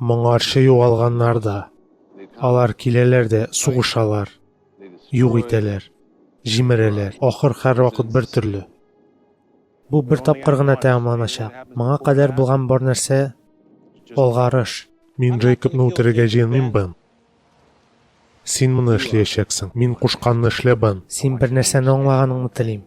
Моңарчы югалганнар да, алар киләләр дә сугышалар, юк итәләр, җимерәләр. Ахыр һәрвакыт бер төрле. Бу бер тапкыр гына тәмамланачак. Моңа кадәр булган бар нәрсә алгарыш. Мин Джейкобны үтерергә җыенмыйм, Бен. Син моны эшләячәксең. Мин кушканны эшлә, Бен. Син бер нәрсәне аңлаганыңны телим.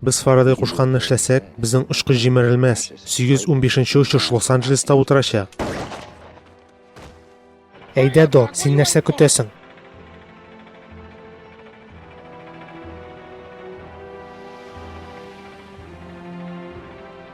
Без Фарадей кушканны эшләсәк, безнең очкыч җимерелмәс. 815-нче очыш Лос-Анджелеста утырачак. Әйдә, Док, син нәрсә көтәсең?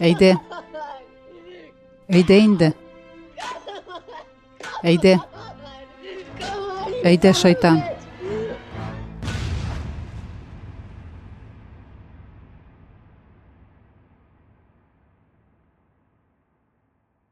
Әйдә. Әйдә инде. Әйдә. Әйдә, шайтан.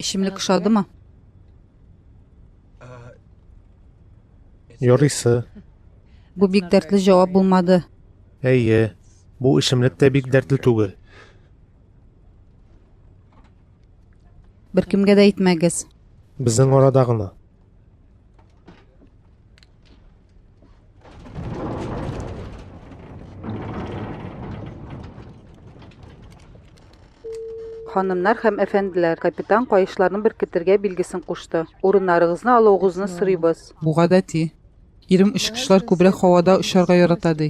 Эчемлек ошадымы? Ярыйсы. Бу бик дәртле җавап булмады. Әйе, бу эчемлек тә бик дәртле түгел. Беркемгә дә әйтмәгез. Безнең арада гына. Ханымнар һәм әфәнделәр, капитан каешларны беркетергә билгесен кушты. Урыннарыгызны алуыгызны сорыйбыз. Бу гадәти. Ирем очкычлар күбрәк һавада очарга ярата ди.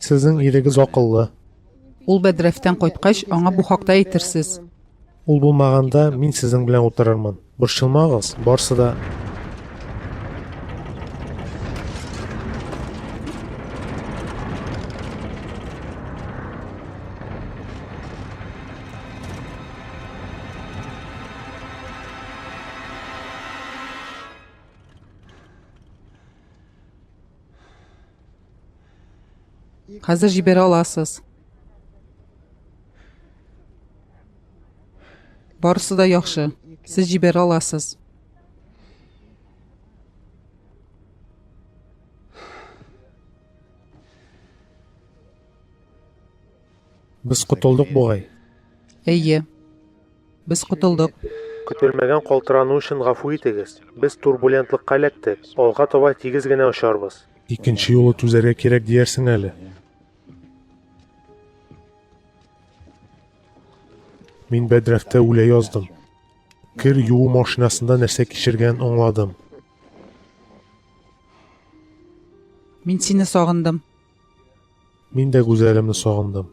Сезнең ирегез акыллы. Ул бәдрәфтән кайткач, аңа бу хакта әйтерсез. Ул булмаганда, мин сезнең белән утырырмын. Борчылмагыз, барсы да Хәзер җибәрә аласыз. Барысы да яхшы. Сез җибәрә аласыз. Без котылдык бугай. Әйе. Без котылдык. Көтелмәгән калтырану өчен гафу итегез. Без турбулентлыкка эләктек. Алга таба тигез генә очарбыз. Икенче юлы түзәргә кирәк диярсең әле. Мин бәдрәфтә үлә яздым. Кер юу машинасында нәрсә кичергән аңладым. Мин сине сагындым. Мин дә гүзәлемне сагындым.